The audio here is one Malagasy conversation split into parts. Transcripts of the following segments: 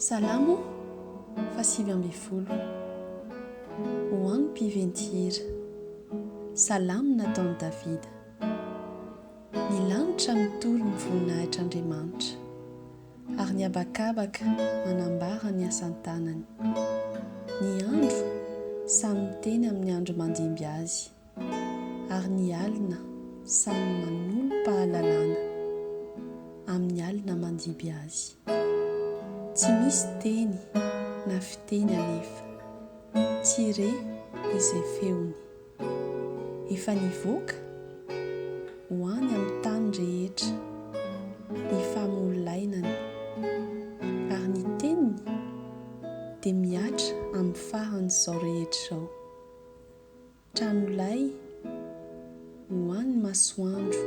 Salamo fahasivy ambin'ny folo Ho an'ny mpiventy hira. Salamo nataon'i Davida. Ny lanitra mitory ny voninahitr'Andriamanitra, ary ny habakabaka manambara ny asan-tanany. Ny andro samy miteny amin'ny andro mandimby azy. ary ny alina samy manolo-pahalalana amin'ny alina mandiby azy. Tsy misy teny na fiteny anefa. Tsy re izay feony. Efa nivoaka? Ho any amin'ny tany rehetra ny famolainany, ary ny teniny dia mihatra amin'ny faran'izao rehetra izao. Tranolay ho an'ny masoandro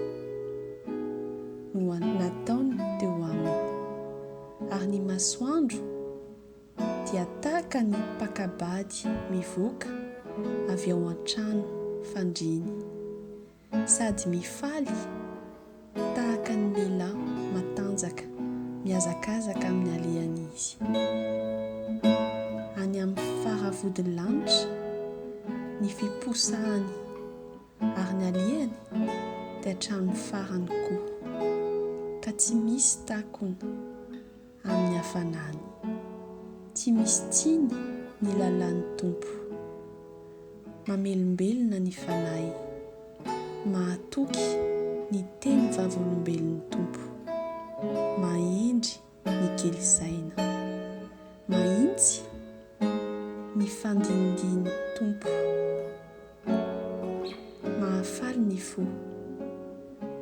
no nataony teo aminy, ary ny masoandro dia tahaka ny mpakabady mivoaka avy ao an-trano fandriany. Sady mifaly tahaka ny lehilahy matanjaka mihazakazaka amin'ny alehany izy. Any amin'ny fara-vodin'ny lanitra ny fiposahany ary ny alehany dia hatramin'ny farany koa, ka tsy misy takona. amin'ny hafanany. Tsy misy tsiny ny lalàn'ny Tompo. Mamelombelona ny fanahy. Mahatoky ny teny vavolombelon'ny Tompo. Mahendry ny kely saina. Mahintsy ny fandinidian'ny Tompo. Mahafaly ny fo.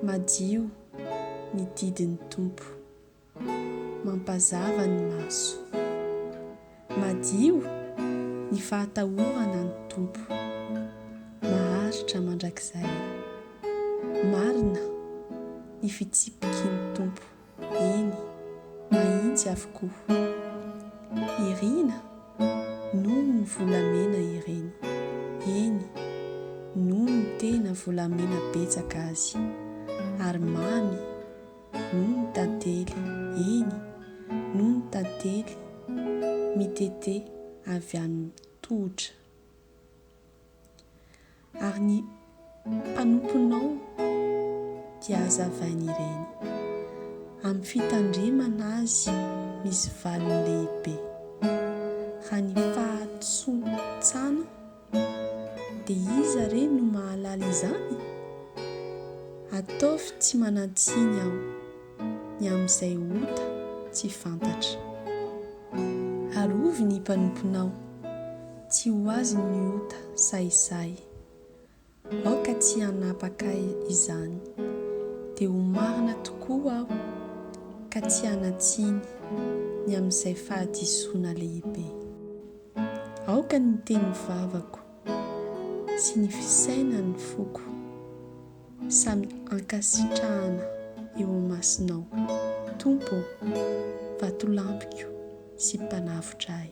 Madio ny didin'ny Tompo. mampazava ny maso. Madio ny fahatahorana ny Tompo. Maharitra mandrakizay. Marina ny fitsipiky ny Tompo, eny, mahitsy avokoa. Irina noho ny volamena ireny, eny, noho ny tena volamena betsaka azy, ary mamy. Noho ny tantely, eny, noho ny tantely mitete avy amin'ny tohotra. Ary ny mpanomponao dia hazavainy ireny, amin'ny fitandremana azy misy valiny lehibe, raha ny fahatsotsana, Dia iza re no mahalala izany? Ataovy tsy manan-tsiny aho ny amin'izay ota tsy fantatra. Arovy ny mpanomponao, tsy ho azy ny ota sahisahy. Aoka tsy hanapaka izany. Dia ho marina tokoa aho ka tsy hanan-tsiny ny amin'izay fahadisoana lehibe. Aoka ny teny vavako sy ny fisainan'ny foko samy hankasitrahana eo imasonao, Tompo ô, vatolampiko. sy mpanavotra ahy.